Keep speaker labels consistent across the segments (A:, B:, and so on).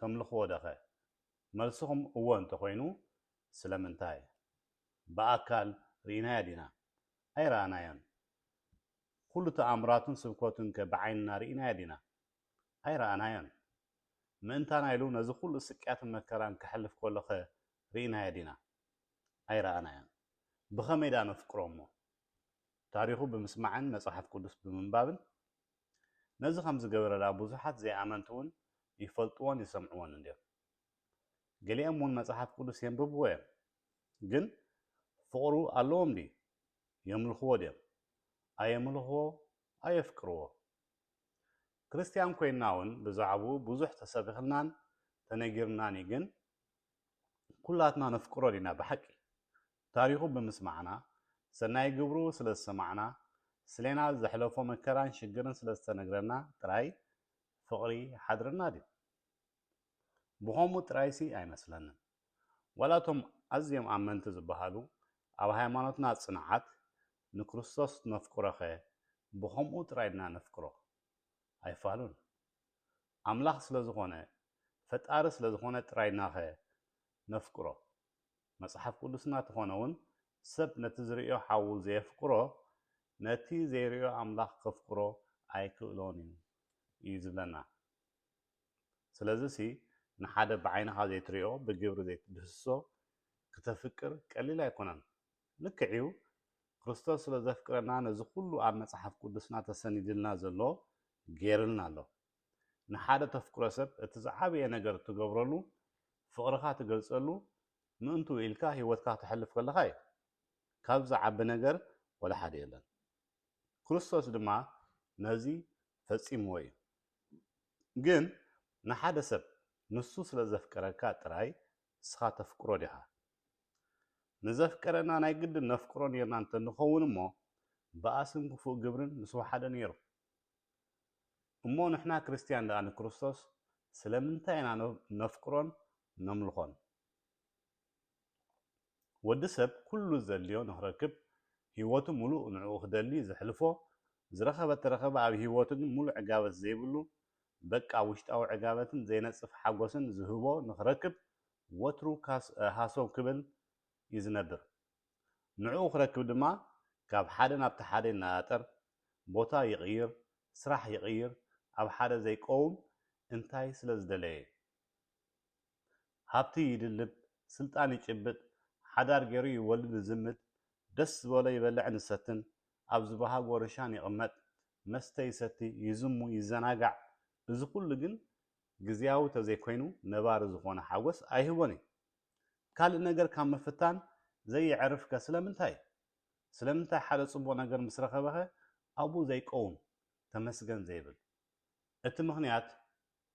A: ተምልኽዎ ደኸ? መልስኹም እወ እንተኾይኑ ስለምንታይ? ብኣካል ርኢናዮ ዲና? ኣይረኣናዮን። ኩሉ ተኣምራቱን ስብከቱንከ ብዓይንና ርኢናዮ ዲና? ኣይረኣናዮን። ምእንታና ኢሉ ነዚ ኩሉ ስቅያትን መከራን ከሕልፍ ከሎኸ ርኢናዮ ዲና? ኣይረኣናዮን። ብኸመይ ደኣ ነፍቅሮ'ሞ? ታሪኹ ብምስማዕን መጽሓፍ ቅዱስ ብምንባብን ነዚ ከም ዝገበረላ ብዙሓት ዘይኣመንቲውን ይፈልጥዎን ይሰምዕዎን እንድዮም። ገሊኦምውን መጽሓፍ ቅዱስ የንብብዎ እዮም። ግን ፍቕሩ ኣለዎም ድዩ? የምልኽዎ ድዮም? ኣየምልኽዎ ኣየፍቅርዎ? ክርስትያን ኰይንናውን ብዛዕባኡ ብዙሕ ተሰቢኽልናን ተነጊሩናን እዩ ግን፣ ኩላትና ነፍቅሮ ዲና ብሓቂ ታሪኹ ብምስማዕና ሰናይ ግብሩ ስለዝሰማዕና ስሌና ዘሕለፎ መከራን ሽግርን ስለዝተነግረና ጥራይ ፍቅሪ ይሓድረና ድዩ ብኸምኡ ጥራይሲ ኣይመስለንን ዋላ እቶም ኣዝዮም ኣመንቲ ዝበሃሉ ኣብ ሃይማኖትና ጽንዓት ንክርስቶስ ነፍቅሮኸ ብኸምኡ ጥራይ ድና ነፍቅሮ ኣይፋሉን ኣምላኽ ስለ ዝኾነ ፈጣሪ ስለ ዝኾነ ጥራይ ኢልናኸ ነፍቅሮ? መጽሓፍ ቅዱስና ተኾነውን ሰብ ነቲ ዝርእዮ ሓዉ ዘየፍቅሮ ነቲ ዘይርእዮ ኣምላኽ ከፍቅሮ ኣይክእሎን እዩ እዩ ዝብለና። ስለዚሲ ንሓደ ብዓይንኻ ዘይትርእዮ ብግብሪ ዘይትድህስሶ ክተፍቅር ቀሊል ኣይኮነን። ልክዕ እዩ ክርስቶስ ስለ ዘፍቅረና ነዚ ኩሉ ኣብ መጽሓፍ ቅዱስና ተሰኒድልና ዘሎ ጌርልና ኣሎ። ንሓደ ተፍቅሮ ሰብ እቲ ዝዓበየ ነገር ትገብረሉ ፍቅርካ ትገልጸሉ ምእንትኡ ኢልካ ሂወትካ ተሕልፍ ከለካ እዩ። ካብዚ ዝዓቢ ነገር ወላ ሓደ የለን። ክርስቶስ ድማ ነዚ ፈጺምዎ እዩ። ግን ንሓደ ሰብ ንሱ ስለ ዘፍቀረካ ጥራይ ንስኻ ተፍቅሮ ዲኻ? ንዘፍቀረና ናይ ግድን ነፍቅሮ ኔርና እንተ ንኸውን እሞ ባእስን ክፉእ ግብርን ምስ ወሓደ ኔሩ። እሞ ንሕና ክርስትያን ደኣ ንክርስቶስ ስለምንታይ ኢና ነፍቅሮን ነምልኾን? ወዲ ሰብ ኩሉ ዘድልዮ ንክረክብ ሂወቱ ምሉእ ንዕኡ ክደሊ ዘሕልፎ ዝረኸበ ተረኸበ ኣብ ሂወቱ ግን ምሉእ ዕጋበት ዘይብሉ በቃ ውሽጣዊ ዕጋበትን ዘይነጽፍ ሓጎስን ዝህቦ ንኽረክብ ወትሩ ሃሰው ክብል እዩ ዝነብር። ንዕኡ ክረክብ ድማ ካብ ሓደ ናብቲ ሓደ ይነጣጠር፣ ቦታ ይቕይር፣ ስራሕ ይቕይር፣ ኣብ ሓደ ዘይቀውም እንታይ ስለዝደለየ? ሃብቲ ይድልብ ስልጣን ይጭብጥ ሓዳር ጌሩ ይወልድ ይዝምድ ደስ ዝበሎ ይበልዕን ይሰትን ኣብ ዝባሃጎ ርሻን ይቕመጥ መስተ ይሰቲ ይዝሙ ይዘናጋዕ እዚ ኩሉ ግን ግዝያዊ ተዘይኮይኑ ነባሪ ዝኾነ ሓጎስ ኣይህቦን እዩ ካልእ ነገር ካብ ምፍታን ዘየዕርፍ ከ ስለምንታይ ስለምንታይ ሓደ ጽቡቕ ነገር ምስ ረኸበኸ ኣብኡ ዘይቀውም ተመስገን ዘይብል እቲ ምኽንያት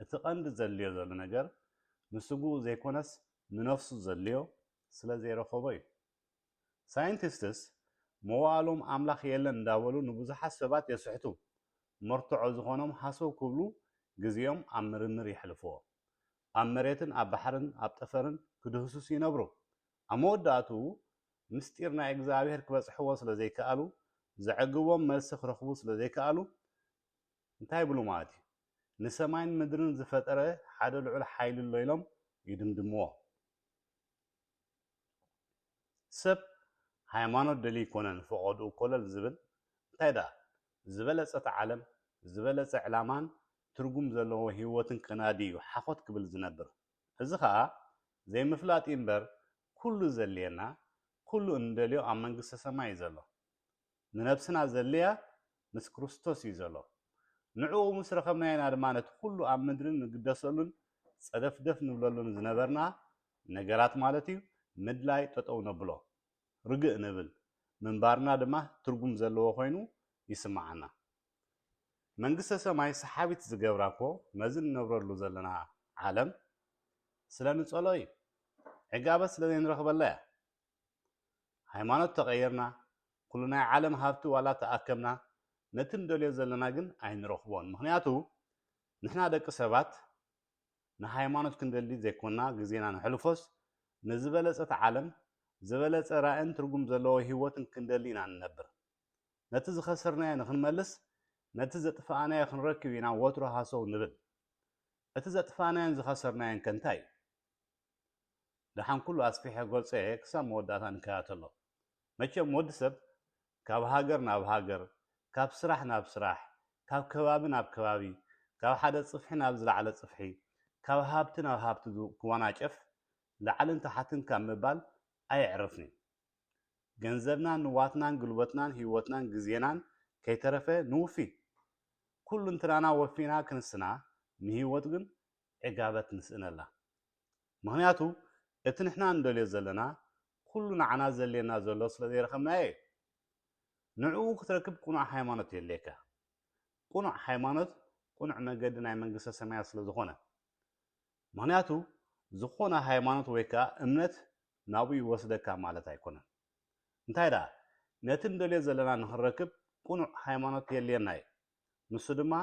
A: እቲ ቀንዲ ዘድልዮ ዘሎ ነገር ንስግኡ ዘይኮነስ ንነፍሱ ዘድልዮ ስለ ዘይረኸቦ እዩ። ሳይንቲስትስ መዋእሎም ኣምላኽ የለን እንዳበሉ ንብዙሓት ሰባት የስሕቱ፣ መርትዖ ዝኾኖም ሃሰው ክብሉ ግዜኦም ኣብ ምርምር የሕልፍዎ። ኣብ መሬትን ኣብ ባሕርን ኣብ ጠፈርን ክድህስሱ ይነብሩ። ኣብ መወዳእትኡ ምስጢር ናይ እግዝኣብሄር ክበጽሕዎ ስለ ዘይከኣሉ፣ ዘዕግቦም መልሲ ክረኽቡ ስለ ዘይከኣሉ፣ እንታይ ይብሉ ማለት እዩ? ንሰማይን ምድርን ዝፈጠረ ሓደ ልዑል ሓይሊ ኣሎ ኢሎም ይድምድምዎ። ሰብ ሃይማኖት ደልዩ ኮነ ንፈቐድኡ ኮለል ዝብል፣ እንታይ ደኣ ዝበለጸት ዓለም፣ ዝበለጸ ዕላማን ትርጉም ዘለዎ ህይወትን ከናዲ እዩ ሓኾት ክብል ዝነብር። እዚ ከኣ ዘይምፍላጥ እዩ እምበር ኩሉ ዘድልየና፣ ኩሉ እንደልዮ ኣብ መንግስተ ሰማይ እዩ ዘሎ። ንነብስና ዘድልያ ምስ ክርስቶስ እዩ ዘሎ። ንዕኡ ምስ ረኸብናዮ ኢና ድማ ነቲ ኩሉ ኣብ ምድሪ ንግደሰሉን ጸደፍደፍ ንብለሉን ዝነበርና ነገራት ማለት እዩ ምድላይ ጠጠው ነብሎ። ርግእ ንብል። ምንባርና ድማ ትርጉም ዘለዎ ኮይኑ ይስምዓና። መንግስተ ሰማይ ሰሓቢት ዝገብራ እኮ ነዚ ንነብረሉ ዘለና ዓለም ስለ ንጸሎ እዩ። ዕጋበት ስለ ዘይንረኽበላ እያ። ሃይማኖት ተቐይርና፣ ኩሉ ናይ ዓለም ሃብቲ ዋላ ተኣከብና፣ ነቲ ንደልዮ ዘለና ግን ኣይንረኽቦን። ምኽንያቱ ንሕና ደቂ ሰባት ንሃይማኖት ክንደሊ ዘይኮና ግዜና ነሕልፎስ፣ ንዝበለጸት ዓለም፣ ዝበለጸ ራእን ትርጉም ዘለዎ ህይወትን ክንደሊ ኢና እንነብር። ነቲ ዝኸሰርናዮ ንኽንመልስ፣ ነቲ ዘጥፋእናዮ ክንረክብ ኢና ወትሩ ሃሰው ንብል። እቲ ዘጥፋእናዮን ዝኸሰርናዮንከ እንታይ'ዩ? ደሓን ኩሉ ኣስፊሐ ገልጸ እየ ክሳብ መወዳእታ ንከታተሎ መቸም ወዲ ሰብ ካብ ሃገር ናብ ሃገር ካብ ስራሕ ናብ ስራሕ ካብ ከባቢ ናብ ከባቢ ካብ ሓደ ጽፍሒ ናብ ዝለዓለ ጽፍሒ ካብ ሃብቲ ናብ ሃብቲ ክዋናጨፍ ላዕልን ታሓትን ካብ ምባል ኣየዕርፍንዩ ገንዘብናን ንዋትናን ግልቦትናን ሂወትናን ግዜናን ከይተረፈ ንውፊ ኩሉንትናና ወፊና ክንስና ንሂወት ግን ዕጋበት ንስእነላ። ምኽንያቱ እቲ ንሕና እንደልዮ ዘለና ኩሉ ንዓና ዘድልየና ዘሎ ስለ ዘይረኸብናዮ እዩ። ንዕኡ ክትረክብ ቅኑዕ ሃይማኖት የድልየካ። ቅኑዕ ሃይማኖት ቅኑዕ መገዲ ናይ መንግስተ ሰማያት ስለ ዝኾነ። ምኽንያቱ ዝኾነ ሃይማኖት ወይ ከኣ እምነት ናብኡ ይወስደካ ማለት ኣይኮነን። እንታይ ደኣ ነቲ እንደልዮ ዘለና ንኽንረክብ ቅኑዕ ሃይማኖት የድልየና እዩ። ንሱ ድማ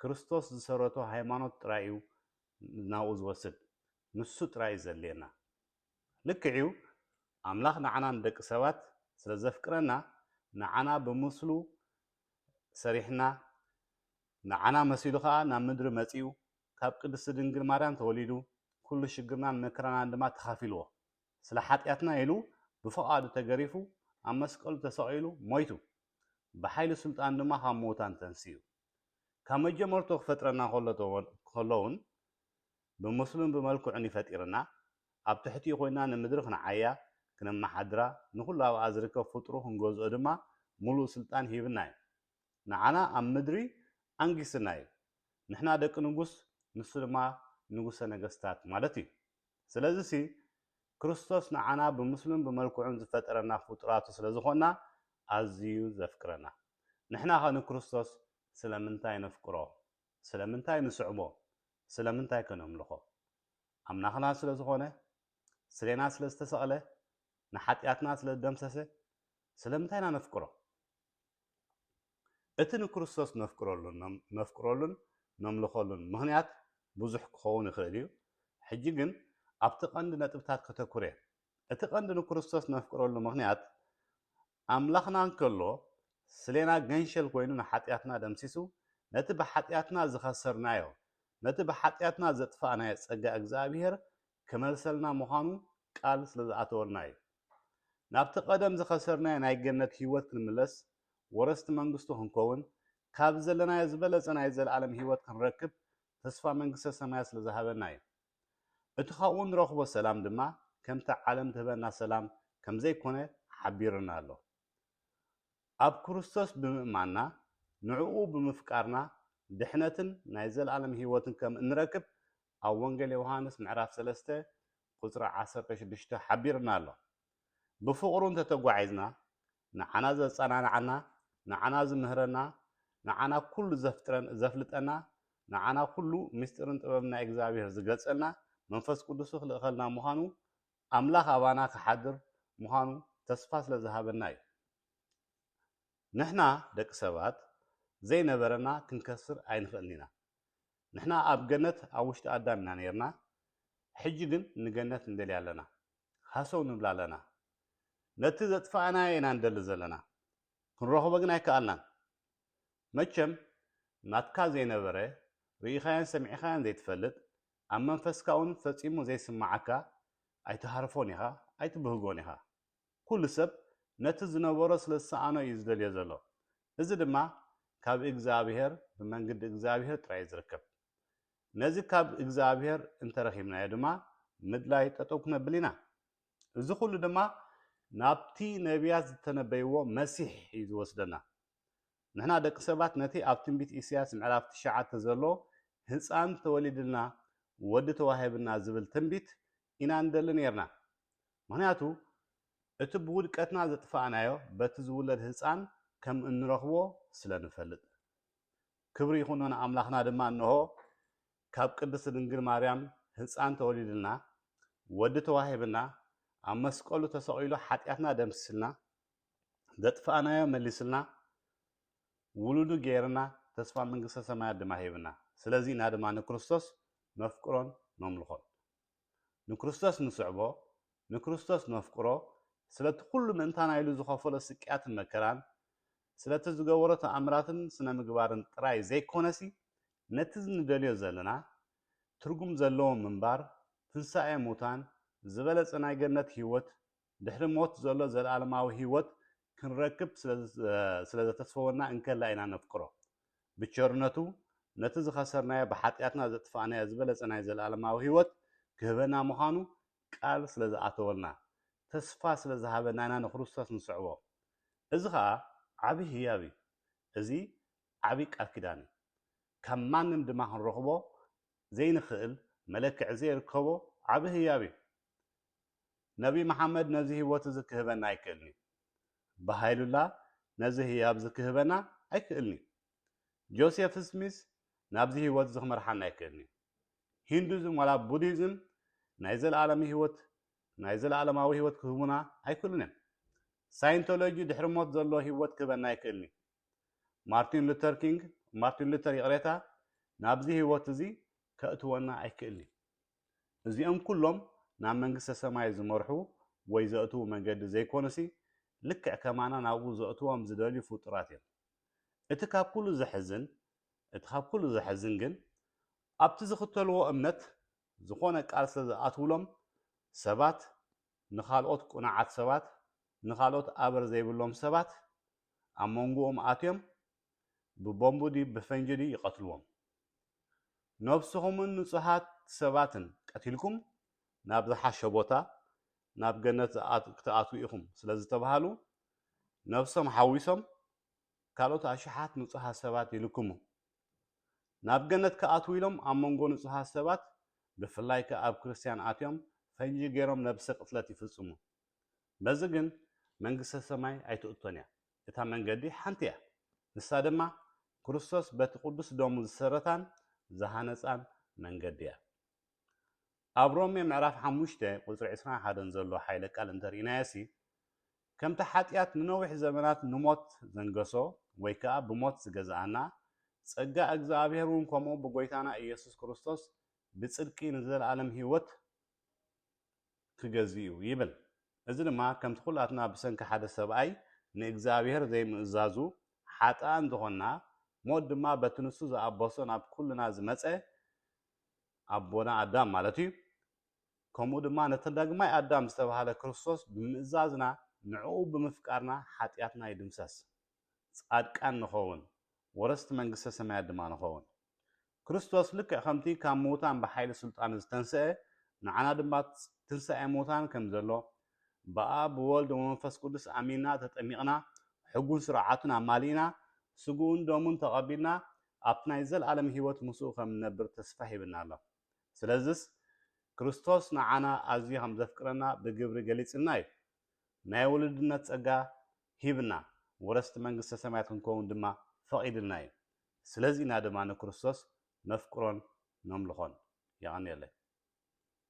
A: ክርስቶስ ዝሰረቶ ሃይማኖት ጥራይ እዩ ናብኡ ዝወስድ ንሱ ጥራይ እዩ ዘድልየና ልክዕ እዩ ኣምላኽ ንዓና ንደቂ ሰባት ስለ ዘፍቅረና ንዓና ብምስሉ ሰሪሕና ንዓና መሲሉ ከኣ ናብ ምድሪ መጺኡ ካብ ቅድስቲ ድንግል ማርያም ተወሊዱ ኩሉ ሽግርናን መከራናን ድማ ተኻፊልዎ ስለ ሓጢኣትና ኢሉ ብፍቓዱ ተገሪፉ ኣብ መስቀሉ ተሰቒሉ ሞይቱ ብሓይሊ ስልጣን ድማ ካብ ምዉታን ተንሲኡ። ካብ መጀመርትኡ ክፈጥረና ከሎ ከሎውን ብምስሉን ብመልክዑን እዩ ፈጢርና። ኣብ ትሕቲኡ ኮይና ንምድሪ ክንዓያ፣ ክነመሓድራ፣ ንኹሉ ኣብኣ ዝርከብ ፍጡሩ ክንገዝኦ ድማ ምሉእ ስልጣን ሂብና እዩ። ንዓና ኣብ ምድሪ ኣንጊስና እዩ። ንሕና ደቂ ንጉስ ንሱ ድማ ንጉሰ ነገስታት ማለት እዩ። ስለዚሲ ክርስቶስ ንዓና ብምስሉን ብመልክዑን ዝፈጠረና ፍጡራቱ ስለ ዝዀንና ኣዝዩ ዘፍቅረና። ንሕናኸ ንክርስቶስ ስለምንታይ ነፍቅሮ? ስለምንታይ ንስዕቦ? ስለምንታይከ ነምልኾ? ኣምላኽና ስለ ዝዀነ? ስሌና ስለ ዝተሰቕለ? ንሓጢኣትና ስለ ዝደምሰሰ? ስለምንታይ ኢና ነፍቅሮ? እቲ ንክርስቶስ ነፍቅረሉን ነፍቅረሉን ነምልኸሉን ምኽንያት ብዙሕ ክኸውን ይኽእል እዩ፣ ሕጂ ግን ኣብቲ ቀንዲ ነጥብታት ከተኵር እየ። እቲ ቀንዲ ንክርስቶስ ነፍቅረሉ ምኽንያት፣ ኣምላኽና እንከሎ ስሌና ገንሸል ኮይኑ ንሓጢኣትና ደምሲሱ ነቲ ብሓጢኣትና ዝኸሰርናዮ፣ ነቲ ብሓጢኣትና ዘጥፋእናዮ ጸጋ እግዚኣብሄር ከመልሰልና ምዃኑ ቃል ስለ ዝኣተወልና እዩ። ናብቲ ቀደም ዝኸሰርናዮ ናይ ገነት ህይወት ክንምለስ፣ ወረስቲ መንግስቱ ክንከውን፣ ካብዚ ዘለናዮ ዝበለጸ ናይ ዘለኣለም ህይወት ክንረክብ ተስፋ መንግስተ ሰማያት ስለ ዝሃበና እዩ። እቲ ካብኡ እንረኽቦ ሰላም ድማ ከምቲ ዓለም ትህበና ሰላም ከም ዘይኮነ ሓቢሩና ኣሎ። ኣብ ክርስቶስ ብምእማንና ንዕኡ ብምፍቃርና ድሕነትን ናይ ዘለኣለም ህይወትን ከም እንረክብ ኣብ ወንጌል ዮውሃንስ ምዕራፍ ሰለስተ ቁጽሪ ዓሰርተ ሽዱሽተ ሓቢሩና ኣሎ። ብፍቕሩ እንተ ተጓዒዝና፣ ንዓና ዘጸናንዓና፣ ንዓና ዝምህረና፣ ንዓና ኩሉ ዘፍጥረን ዘፍልጠና፣ ንዓና ኩሉ ምስጢርን ጥበብን ናይ እግዚኣብሔር ዝገልጸልና መንፈስ ቅዱሱ ክልእኸልና ምዃኑ ኣምላኽ ኣባና ክሓድር ምዃኑ ተስፋ ስለ ዝሃበና እዩ። ንሕና ደቂ ሰባት ዘይነበረና ክንከስር ኣይንኽእልን ኢና። ንሕና ኣብ ገነት ኣብ ውሽጢ ኣዳም ኢና ነይርና ሕጂ ግን ንገነት ንደልያ ኣለና ሃሰው ንብላ ኣለና ነቲ ዘጥፋእናዮ ኢና ንደሊ ዘለና ክንረኽቦ ግን ኣይከኣልናን መቸም ናትካ ዘይነበረ ርኢኻዮን ሰሚዕኻዮን ዘይትፈልጥ ኣብ መንፈስካ ውን ፈጺሙ ዘይስመዓካ ኣይትሃርፎን ኢኻ ኣይትብህጎን ኢኻ ኩሉ ሰብ ነቲ ዝነበሮ ስለ ዝሰኣኖ እዩ ዝደልዮ ዘሎ እዚ ድማ ካብ እግዝኣብሄር ብመንግዲ እግዝኣብሄር ጥራይ እዩ ዝርከብ ነዚ ካብ እግዝኣብሄር እንተረኪብናዮ ድማ ምድላይ ጠጠው ክነብል ኢና እዚ ኩሉ ድማ ናብቲ ነብያት ዝተነበይዎ መሲሕ እዩ ዝወስደና ንሕና ደቂ ሰባት ነቲ ኣብ ትንቢት ኢሰያስ ምዕራፍ ትሽዓተ ዘሎ ህጻን ተወሊድልና ወዲ ተዋሂብና ዝብል ትንቢት ኢና ንደሊ ኔርና። ምኽንያቱ እቲ ብውድቀትና ዘጥፋእናዮ በቲ ዝውለድ ህጻን ከም እንረኽቦ ስለ ንፈልጥ። ክብሪ ይኹኖ ንኣምላኽና ድማ እንሆ ካብ ቅድስት ድንግል ማርያም ህጻን ተወሊድልና፣ ወዲ ተዋሂብና፣ ኣብ መስቀሉ ተሰቒሉ ሓጢኣትና ደምሲስልና፣ ዘጥፋእናዮ መሊስልና፣ ውሉዱ ገይርና፣ ተስፋ መንግስተ ሰማያት ድማ ሂብና። ስለዚ ኢና ድማ ንክርስቶስ ነፍቅሮን ነምልኾን። ንክርስቶስ ንስዕቦ፣ ንክርስቶስ ነፍቅሮ፣ ስለቲ ኩሉ ምእንታና ኢሉ ዝኸፈሎ ስቅያትን መከራን፣ ስለቲ ዝገበሮ ተኣምራትን ስነ ምግባርን ጥራይ ዘይኮነሲ ነቲ ንደልዮ ዘለና ትርጉም ዘለዎ ምንባር፣ ትንሳኤ ሙታን፣ ዝበለጸ ናይ ገነት ህይወት ድሕሪ ሞት ዘሎ ዘለኣለማዊ ህይወት ክንረክብ ስለ ዘተስፈወና እንከላ ኢና ነፍቅሮ። ብቸርነቱ ነቲ ዝኸሰርናዮ ብሓጢኣትና ዘጥፋእናዮ ዝበለጸ ናይ ዘለኣለማዊ ህይወት ክህበና ምዃኑ ቃል ስለ ዝኣተወልና ተስፋ ስለ ዝሃበና ኢና ንክርስቶስ ንስዕቦ። እዚ ኸኣ ዓቢ ህያብ እዩ። እዚ ዓቢ ቃል ኪዳን እዩ። ካብ ማንም ድማ ክንረኽቦ ዘይንኽእል መለክዒ ዘይርከቦ ዓቢ ህያብ እዩ። ነብይ መሓመድ ነዚ ህይወት እዚ ክህበና ኣይክእልን'ዩ። በሃይሉላ ነዚ ህያብ እዚ ክህበና ኣይክእልን'ዩ። ጆሴፍ ስሚዝ ናብዚ ህይወት እዚ ክመርሓና ኣይክእልን'ዩ። ሂንዱዝም ዋላ ቡዲዝም ናይ ዘለኣለም ህይወት ናይ ዘለኣለማዊ ህይወት ክህቡና ኣይክእሉን'ዮም። ሳይንቶሎጂ ድሕሪ ሞት ዘሎ ህይወት ክህበና ኣይክእልን'ዩ። ማርቲን ሉተር ኪንግ ማርቲን ሉተር ይቕሬታ ናብዚ ህይወት እዚ ከእትወና ኣይክእልን'ዩ። እዚኦም ኩሎም ናብ መንግስተ ሰማይ ዝመርሑ ወይ ዘእትዉ መንገዲ ዘይኮኑሲ ልክዕ ከማና ናብኡ ዘእትዎም ዝደልዩ ፍጡራት እዮም። እቲ ካብ ኩሉ ዘሕዝን እቲ ካብ ኩሉ ዘሕዝን ግን ኣብቲ ዝኽተልዎ እምነት ዝኾነ ቃል ስለ ዝኣትዉሎም ሰባት ንኻልኦት ቅኑዓት ሰባት ንኻልኦት ኣበር ዘይብሎም ሰባት ኣብ መንጎኦም ኣትዮም ብቦምብ ድዩ ብፈንጂ ድዩ ይቀትልዎም ነብስኹምን ንጹሃት ሰባትን ቀቲልኩም ናብ ዝሓሸ ቦታ ናብ ገነት ክትኣትዉ ኢኹም ስለዝተባሃሉ ነብሶም ሓዊሶም ካልኦት ኣሽሓት ንጹሃት ሰባት ይልክሙ ናብ ገነት ክኣትዉ ኢሎም ኣብ መንጎ ንጹሃት ሰባት ብፍላይ ከኣ ኣብ ክርስትያን ኣትዮም ፈንጂ ገይሮም ነብሰ ቅትለት ይፍጽሙ በዚ ግን መንግስተ ሰማይ ኣይትእቶን እያ እታ መንገዲ ሓንቲ እያ፣ ንሳ ድማ ክርስቶስ በቲ ቅዱስ ደሙ ዝሰረታን ዝሃነጻን መንገዲ እያ። ኣብ ሮሜ ምዕራፍ ሓሙሽተ ቁጽሪ ዕስራን ሓደን ዘሎ ሓይለ ቃል እንተርኢናዮሲ ከምቲ ሓጢኣት ንነዊሕ ዘመናት ንሞት ዘንገሶ ወይ ከኣ ብሞት ዝገዝኣና ጸጋ እግዝኣብሄር እውን ከምኡ ብጎይታና ኢየሱስ ክርስቶስ ብጽድቂ ንዘለኣለም ህይወት ክገዝእ'ዩ ይብል። እዚ ድማ ከምቲ ኩላትና ብሰንኪ ሓደ ሰብኣይ ንእግዚኣብሄር ዘይምእዛዙ ሓጥኣን ዝኾንና፣ ሞት ድማ በቲ ንሱ ዝኣበሶ ናብ ኩልና ዝመጸ ኣቦና ኣዳም ማለት'ዩ፣ ከምኡ ድማ ነቲ ዳግማይ ኣዳም ዝተባህለ ክርስቶስ ብምእዛዝና ንዕኡ ብምፍቃርና ሓጥያትና ይድምሰስ፣ ጻድቃን ንኸውን፣ ወረስቲ መንግስተ ሰማያት ድማ ንኸውን። ክርስቶስ ልክዕ ከምቲ ካብ ምዉታን ብሓይሊ ስልጣኑ ዝተንሰኤ ንዓና ድማ ትንሳኤ ምዉታን ከም ዘሎ ብኣብ ብወልድ ወመንፈስ ቅዱስ ኣሚንና ተጠሚቅና ሕጉን ስርዓቱን ኣማሊእና ስግኡን ደሙን ተቀቢልና ኣብቲ ናይ ዘልኣለም ሂወት ምስኡ ከም ንነብር ተስፋ ሂብና ኣሎ ስለዝስ ክርስቶስ ንዓና ኣዝዩ ከም ዘፍቅረና ብግብሪ ገሊጽልና እዩ ናይ ዉሉድነት ጸጋ ሂብና ወረስቲ መንግስተ ሰማያት ክንከዉን ድማ ፈቂድልና እዩ ስለዚ ኢና ድማ ንክርስቶስ ነፍቅሮን ነምልኾን። የቐንየለይ።